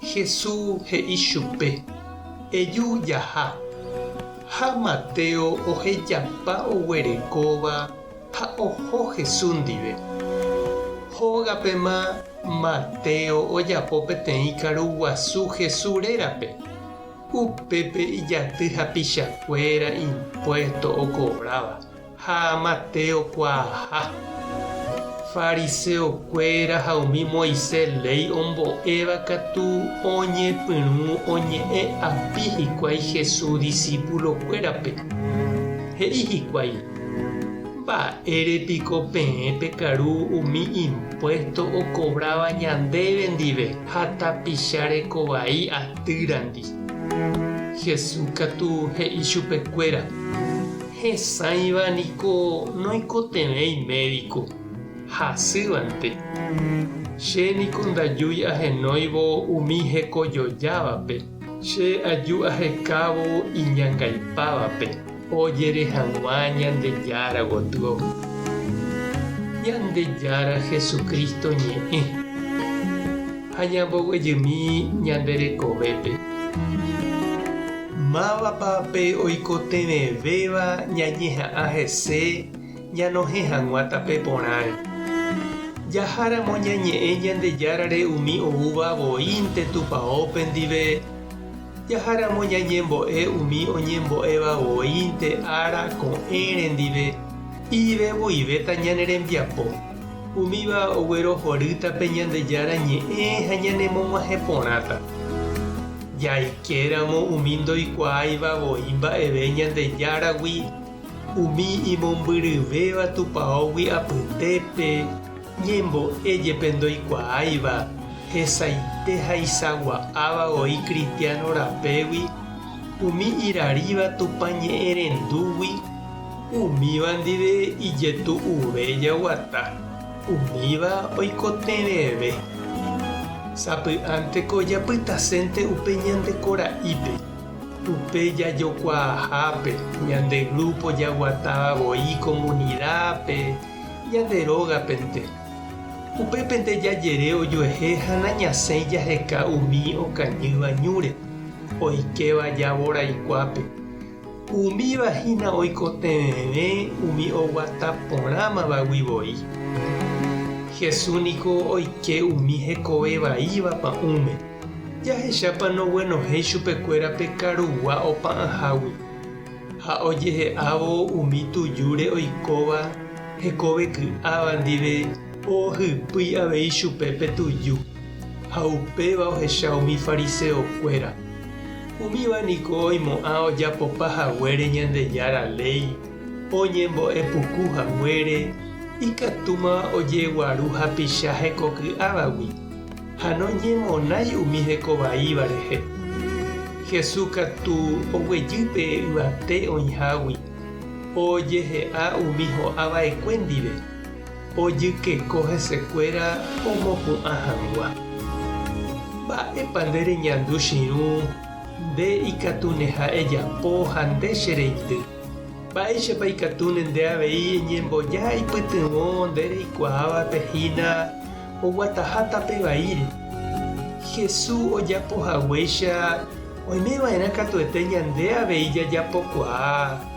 Hesu he'i chupe, Eju jaha. Ha Mateo ohejapa oguerekóva ha oho Hesu ndive. Hógapema Mateo ojapo peteĩ karu guasu Hesu rérape. Upépe ijaty hapichakuéra impuesto okovráva Ha Mateo kuaaha. Fariseokuéra ha umi Moisés léi ombo'éva katu oñepyrũ oñe'ẽ api hikuái Jesús disípulokuérape. He'i hikuái, Mba'ére piko peẽ pekaru umi impuésto okovráva ñandéve ndive ha tapicha reko vai atýrandi? Jesús katu he'i chupekuéra, Hesãiva niko noikotevẽ imédiko, hasývante. Che niko ndajúi ahenóivo umi hekojojávape, che aju ahekávo iñangaipávape ojere hag̃ua Ñandejára gotyo. Ñandejára Jesucristo ñe'ẽ. Ha ñamboguejymi ñande rekovépe. Mávapa pe oikotevẽvéva ñañeha'ã hese ñanohẽ hag̃ua tape porãre? Jaháramo ñañe'ẽ Ñandejárare umi oúva voínte tupaópe ndive, jaháramo ñañembo'e umi oñembo'éva voínte ára ko'ẽre ndive, ivevoi véta ñane rembiapo. Umíva oguerohorýta pe Ñandejára Ñe'ẽ ha ñanemog̃uahẽ porãta. Jaikéramo umi ndoikuaáiva voi mba'eve Ñandejáragui, umi imombyryvéva tupaógui apytépe, ñembo'e jepe ndoikuaáiva, hesaite ha isagua'áva voi kristiano rapégui, umi iraríva Tupã ñe'ẽ rendúgui, Umíva ndive ijetu'uve jaguata, umíva oikotevẽve. Sapy'ánteko japytasénte upe ñande kora'ípe, upe jajokuaahápe, ñande grúpo jaguatáva voi komunidápe, ñande rógapente. Upépente jajere ojuehe ha nañasẽi jaheka umi okañýva ñúre, oikéva javo raikuápe. Umíva hína oikotevẽve umi oguata porãmavagui voi. Jesús niko oike umi hekove vaíva pa'ũme. Jahechápa noguenohẽi chupekuéra pe karugua opa'ãhágui? Ha ojehe'ávo umi tujúre oikóva hekove ky'áva ndive ohohypýi avei chupe pe tuju. Ha upéva ohecha umi fariseokuéra. Umíva niko oimo'ã ojapopa haguére Ñandejára léi oñembo'epuku haguére ikatúma ojeguaru hapicha hekoky'ávagui ha noñemonái umi hekovaíva rehe. Jesús katu oguejy pe yvate oĩhágui ojehe'a umi ho'ava'ekue ndive. Ojykeko hesekuéra omopu'ã hag̃ua. Mba'épa nde reñandu chirũ, nde ikatu ndeha'e japo ha nde che reindy? Mba'éichapa ikatúne nde avei eñemboja ipytyvõ nde reikuaávape hína oguataha tape vaíre? Hesu ojapo haguéicha oimeva'erã katuete ñande avei jajapokuaa.